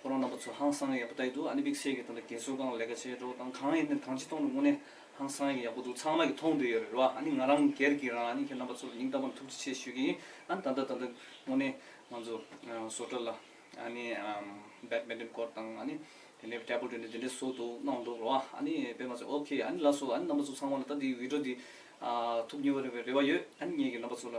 ཁོ་རང་རྣམ་པ་ཚོ་ཧང་སངས་ཡག་པོ་ད་ཡི་འདུག་ཨ་ནི་དམིགས་བསལ་གྱི་དོན་དུ་རྒན་གསོ་ཁང་ལས་ཀ་བྱེད་འགྲོ་དང་གང་ཡིན་ནས་གང་ཅི་གཏོང་རུང་དངོས་གནས་ཧང་སངས་ཡག་པོ་འདུག་ཚང་མ་གི་མཐོང་འདོད་ཡོད་རེད་རེད་བ་ཨ་ནི་ང་རང་སྒེར་གྱི་རང་ཨ་ནི་ཁྱེད་རྣམ་པ་ཚོར་སྙིང་གཏམ་བར་ཐུགས་རྗེ་ཆེ་ཞུ་གི་ཡིན་ཨ་ནི་ད་ལྟ་ད་ལྟ་དངོས་གནས་ང་ཚོ་བཟོ་གྲ་ལ་ཨ་ནི་བེད་མེད་ཏེན་སྐོར་དང་ཨ་ནི་དེ་ནས་ཏྲེ་བུ་ཏྲེ་ནས་དེ་འདྲས་བཟོ་འདུག་གནང་འདུག་རེད་བ་ཨ་ནི་དཔེ་མ་ཚད་ཨོ་ཁེ་ཨ་ནི་ལགས་སོ་ཨ་ནི་རྣམ་པ་ཚོ་ཚང་མ་ལ་ད་འདི་བིད་འགྲོ་འདི་ཐུགས་མཉེས་བ་རེད་བའི་རེ་བ་ཡོད་ཨ་ནི་ངེད་ཀྱི་རྣམ་པ་ཚོ་ལ།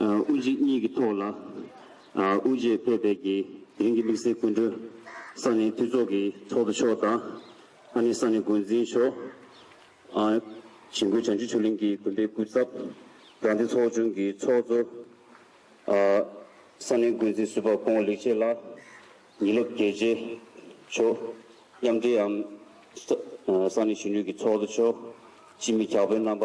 དབུ་འབྱེད་གཉིས་ཀྱི་ཐོག་ལ་དབུ་འབྱེད་ཕེབས་པའི་དགེ་རྒན་གྱི་དམིགས་བསལ་སྐུ་མགྲོན་ས་གནས་འཐུས་ཚོགས་ཀྱི་ཚོགས་གཙོ་མཆོག་དང་ཨ་ནེ་ས་གནས་འགོ་འཛིན་མཆོག། བྱེ་འགུལ་བྱང་ཆུབ་ཆོས་གླིང་གི་དགོན་པའི་སྐུ་ཚབ། རྒྱ་མཚོ་ཚོགས་ཆུང་གི་ཚོགས་གཙོ། ས་གནས་འགོ་འཛིན་ཟུར་པ་ཀོང་བོ་ལེགས་བྱས་ལགས། ཉི་ལོག་རྒྱལ་རྗེ་མཆོག། མཉམ་འབྲེལ་ཨམ་ས་གནས་གཞོན་ནུས་ཀྱི་ཚོགས་གཙོ་མཆོག། སྤྱི་མི་གྱ་དཔོན་རྣམ་པ།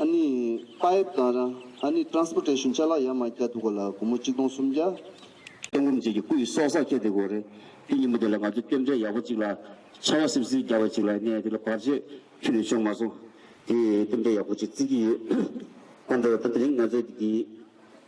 ཨ་ནི Pipe དང་རང་ཨ་ནི Transportation བཅའ་ལག་ཡ་མ་བརྒྱ་འདུག་ག་ལ་སྒོར་མོ་གཅིག་སྟོང་སུམ་བརྒྱ། སྟོན་སྒོམ་བྱེད་ཀྱི་སྐུ་ཡི་སྲོག་སར་ཁྱེར་ཏེ་དགོས་རེད། དེ་ཉིན་མོ་དེ་ལ་ང་ཚོས་རྟེན་འབྲེལ་ཡག་པོ་གཅིག་ལ། ཆར་བ་སིབ་སིབ་རྒྱག་པ་གཅིག་ལ་གནས་དེ་ལ་བར་ཆད་ཁྱོན་ནས་བྱུང་མ་སོང། དེ་རྟེན་འབྲེལ་ཡག་པོ་གཅིག་བརྩི་གི་ཡོད། ཁོང་ཁྲོ་ཡོད་ད་དེ་རིང་ང་ཚོས་དེ་དེའི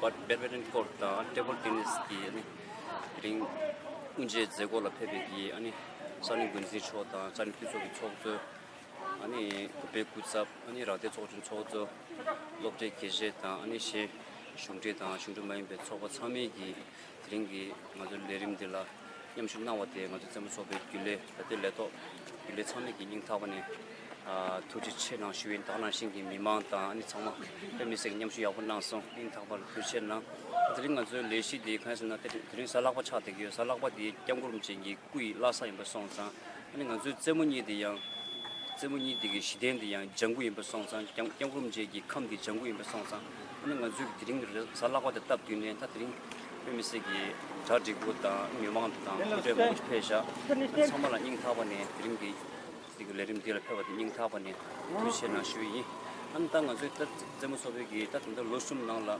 Badminton Court དང Table Tennis གྱི་རིང་དབུ་འབྱེད་མཛད་སྒོ་ལ་ཕེབས་པའི་གཞིས་ཨ་ནི་ས་གནས་འགོ་འཛིན་མཆོག་དང་ས་གནས་འཐུས་ཚོགས་ཀྱི་ཚོགས་གཙོ། ཨ་ནི་བུད་པའི་སྐུ་ཚབ། ཨ་ནི་རག་སྡེ་ཚོགས་ཆུང་ཚོགས་གཙོ། སློབ་གྲྭའི་དགེ་བཤེས་དང་ཨ་ནི་གཞན་གཞུང་འབྲེལ་དང་གཞུང་འབྲེལ་མ་ཡིན་པའི་ཚོགས་པ་ཚང་མའི་གྱི་དེ་རིང་གི་ང་ཚོའི་ལས་རིམ་འདི་ལ་མཉམ་ཞུགས་གནང་བ་དེས་ང་ཚོའི་བཙན་པོ་ཚོགས་པའི་རྒྱུན་ལས་ད་ལྟའི་ལས་ཐོག་རྒྱུན་ལས་ཚང་མས་ཀྱི་སྙིང་ཐག་པ་ནས་ཐུགས་རྗེ་ཆེ་གནང་ཞུ་ཡིན་ད་ནང་བཞིན་གྱི་མི་མང་དང་ཨ་ནི་ཚང་མ་དཔེ་མི་སྲིད་ཀྱི་མཉམ་ཞུགས་ཡག་པོ་གནང་སོང་སྙིང་ཐག་པ་ལ་ཐུགས་རྗེ་ཆེ་གནང། དེ་རིང་ང་ཚོའི་ལས་གཞི་འདི་གང་ཡིན་ཟེར་ན་དེ་རིང་གཟའ་ལག་པ་ཕྱག་འདེགས་ཡོད་གཟའ་ལག་པ་འདིའི་བསྐྱངས་སྐུ་རིམ་ཅན་གྱི་སྐུ་ཡི་བླ་ས་ཡིན་པ་སོང་ཙང་ཨ་ནི་ང་ཚོའི་བཙན་མོ་གཉིས་འདི་ཡང་བཙན་མོ་གཉིས་འདི་གི་གཞི་རྟེན་འདི་ཡང་ལྗང་ཁུ་ཡིན་པ་སོང་ཙང་བསྐྱངས་སྐུ་རིམ་ཅན་གྱི་ཁམས་འདི་ལྗང་ཁུ་ཡིན་པ་སོང་ཙང། ང་ཚོས་དེ་རིང་གི་རེས་གཟའ་བརླག་པ་དེ་བཏབ་དུས་ནས་ད་དེ་རིང་བོད་མི་སེར་གྱི་གྲ་སྒྲིག་པོ་དང་མི་མང་དང་དགོང་དྲོའི་དགོང་ཚོགས་ཕེབས་བཞག་དེ་ཚང་མ་ལ་སྙིང་ཐག་པ་ནས་དེ་རིང་གི་ཚིག་གི་ལས་རིམ་འདི་ལ་ཕེབས་པ་དེ་སྙིང་ཐག་པ་ནས་དུས་ཆེན་ནང་ཞུ་བ་ཡིན། ཨང་ད་ང་ཚོས་ད་རྩེད་མོ་ཚོགས་ཕེབས་ཀྱི་ད་ད་ལྟ་ལོ་གསུམ་ནང་ལ་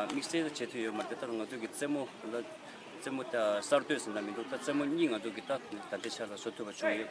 དམིགས་བསལ་བྱེད་ཐུབ་ཡོད་མ་རེད་ད་ད་ང་ཚོས་ཀྱི་རྩེད་མོ་ད་ད་རྩེད་མོ་གསར་གཏོད་ཟེར་ན་མི་འདུག་ད་རྩེད་མོ་གཉིས་ང་ཚོས་ཀྱི་ད་ད་ལྟའི་ཆར་ལ་བཟོ་ཐུབ་པ་བྱུང་ཡོད།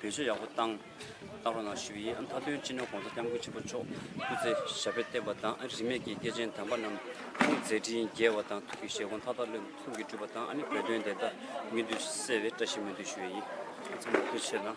བེད་སྤྱོད་ཡག་པོ་བཏང། ཏང་ཀྲུང་དང་ཞི་བའི་མཐའ་དོན་སྤྱི་ནོར ྋགོང་ས ྋསྐྱབས་མགོན་ཆེན་པོ་མཆོག་སྐུ་ཚེ་ཞབས་པད་བརྟན་པ་དང་རིས་མེད་ཀྱི་སྐྱེས་ཆེན་དམ་པ་རྣམས་ཁོང་མཛད་འཕྲིན་རྒྱས་པ་དང་ཐུགས་ཀྱི་བཞེད་དགོངས་མཐའ་དག་ལྷུན་གྲུབ་ཀྱིས་འགྲུབ་པ་དང་བོད་དོན་བདེན་མཐའ་མི་འདུལ་གསལ་བའི་བཀྲ་ཤིས་སྨོན་འདུན་ཞུ་བའི་ཡིད་ཚིམ་པ་ཕལ་ཆེར་ལ།